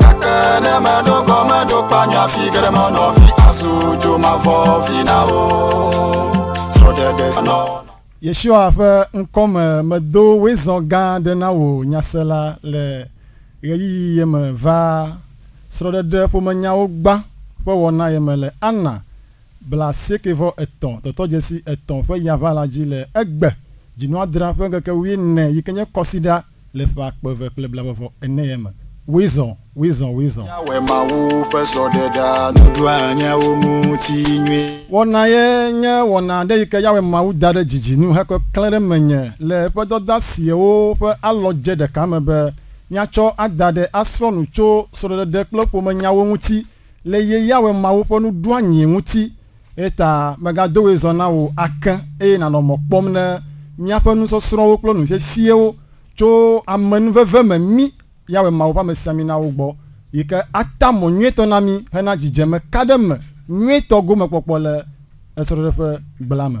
Gake ne meɖo gɔ meɖo kpanya fi geɖe menɔ vi azu dzo mavɔ vi na wo. Srɔ̃ɖeɖe nɔ. Yeshua ƒe ŋkɔ me medo wezɔ gã aɖe na wò nyasela le ɣeyiɣi ye me va srɔ̃ɖeɖe ƒomenyawo gbã ƒe wɔna ye me le Anna blaasieke-vɔ-etɔ̃ tɔtɔdzesi etɔ̃ ƒe yaʋã la dzi le egbe dzinɔadra ƒe ŋkeke wuiene yi ke nye Kɔsiɖa Le ƒe akpe eve kple blabɔvɔ enee me, Wizɔ! Wizɔ! Wizɔ! Míawɔe Mawu ƒe srɔ̃ɖeɖea nuɖoa nyawo ŋuti nyuie. Wɔna ye nye wɔna aɖe yi ke Yahweh Mawu da ɖe dzidzi nu hekɔe klẽ ɖe menye le eƒe dɔdasiawo ƒe alɔdze ɖeka me be míatsɔ ada ɖe asrɔ̃ nu tso srɔ̃ɖeɖe kple ƒomenyawo ŋuti le ye Yahweh Mawu ƒe nuɖoanyie ŋuti. Eya ta mègado woe zɔ na wò ake, eye nànɔ mɔ kpɔm ne míaƒe nusɔsrɔ̃wo kple nufiafiewo tso amenuveve me mí, Yawe Mawu ƒe amesiaminawo gbɔ, yi ke ata mɔ nyuietɔ na mí hena dzidzeme ka ɖe me nyuietɔ gomekpɔkpɔ le esrɔ̃ɖeƒe gblẽa me.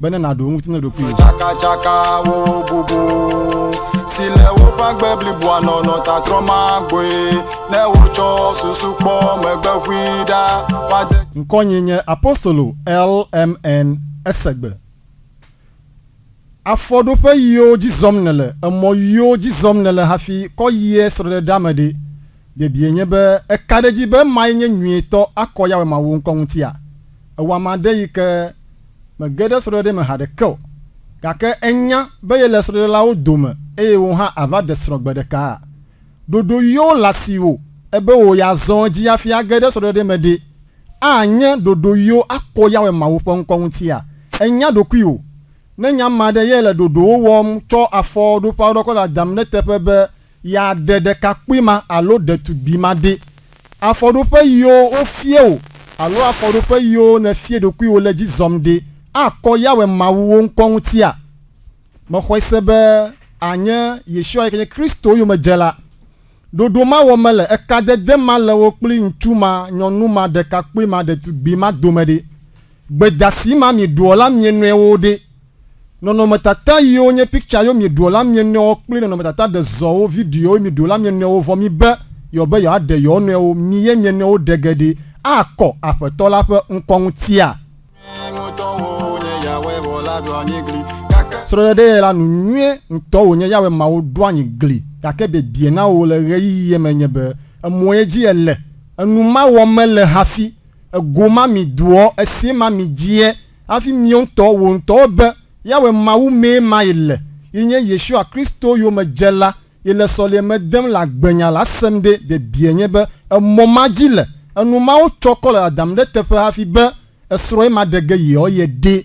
be ne nàɖo eŋuti na ɖokuiwò. Tsakatsakawo bubu si le woƒe agbe bliboa nɔnɔ ta trɔ magbɔe ne wotsɔ susu kpɔ megbe ʋui ɖa woade. Ŋkɔnye nye Apostolo LMN. Ese gbe. Afɔɖoƒe ɣiwo dzi zɔm nèle, emɔ ɣiwo dzi zɔm nèle hafi kɔ yie srɔ̃ɖeɖea me ɖe? Biebie nye be, Èka ɖe edzi be emae nye nyuietɔ akɔ Yahweh Mawu ŋkɔ ŋutia? Èwɔ ame aɖe yi ke mege ɖe srɔ̃ɖeɖe me haɖeke o, gake ènya be yele srɔ̃ɖelawo dome eye wò hã àva ɖe srɔ̃ gbe ɖekaa? Ɖoɖo yɔ le asiwò ebe wò ya zɔ edzi hafi age ɖe srɔ̃ɖeɖe me ɖe? Anye ɖoɖo yɔ akɔ Yahweh Mawu ƒe ŋkɔ ŋutia? Ènya ɖokuiwò? Ne nye ame aɖe ye le ɖoɖowo wɔm tsɔ afɔɖoƒeaɖɔkɔ le adam ɖe eteƒe be Yeaɖe ɖekakpui ma alo ɖetugbui ma ɖe. Afɔɖoƒe yiwo wofia wò alo afɔɖoƒe yiwo nèfia ɖokuiwò le edzi zɔm ɖe, akɔ Yahweh Mawu wò ŋkɔ ŋutia? Mexɔe se be ànye Yeshua yi ke nye Kristo yomedzela. Ɖoɖo ma wɔm mele, ekadede ma le wò kpli ŋutsu ma, nyɔnu ma, ɖekakpui ma, ɖetugbui ma dome ɖe? Gbedasi ma mieɖoa la mie nɔewo ɖe? Nɔnɔmetata yio nye picture yo miɖoɔ la mienɔewo kpli nɔnɔmetata ɖezɔwo, videowo, miɖo la mienɔewo vɔ mibe yeɔbe yeɔaɖe yeɔnɔewo mi ye mienɔewo ɖe ge ɖi akɔ Aƒetɔ la ƒe ŋkɔ ŋutia. Srɔɖe ɖe yɛla nu nyuie ŋtɔ wonye Yahweh Mawu ɖo anyi gli gake biebie na wo le ɣeyiɣie me nye be emɔ ye dzi ele enu ma wɔ mele hafi ego ma mi doɔ esie ma mi dzie Hafi miɔ ŋutɔ wò ŋutɔ be Yahweh Mawu mee ma ye le, yi nye Yeshua Kristo yomedzela, yi le sɔleme dem le agbenya la, asem ɖe biebie nye be emɔ ma dzi le enu mawo tsɔ kɔ le dadam ɖe teƒe hafi be esrɔ̃ ye ma ɖe ge yeɔ ye ɖee.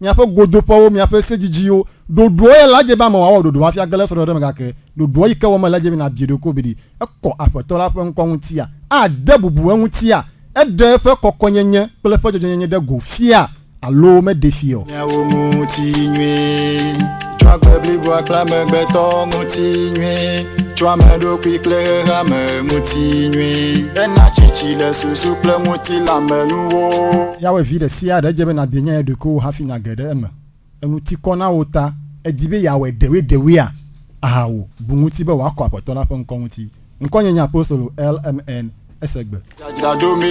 Miaƒe godoƒewo, miaƒe se dzidziwo, ɖoɖoɔ ye la dze be ame wòawɔ ɖoɖo hafi age le srɔ̃ɖeɖe me gake ɖoɖoɔ yi ke wɔ mele dze be nàbie ɖokui be ɖe ekɔ Aƒetɔ la ƒe ŋkɔ ŋutia? Ade bubu eŋutia? Eɖe eƒe kɔkɔenyenye kple eƒe dzɔdzɔenyenye ɖe go fia alo meɖee fia o? Miawo ŋutinyui tso agbe bliboa kple amegbetɔ ŋutinyui tso ame ɖokui kple xexeame ŋutinyui. Ena tsitsi le susu kple ŋutilãmenuwo. Yahweh vi ɖe sia ɖe, edze be nàde nyae ɖokuiwò hafi nàge ɖe eme. Enu ti kɔ na wò ta èdi be yeawɔe ɖewoeɖewoea? Aha wò, bu ŋuti be wòakɔ Aƒetɔ la ƒe ŋkɔ ŋuti. Ŋkɔnye nye Apostolo LMN. Esegbe.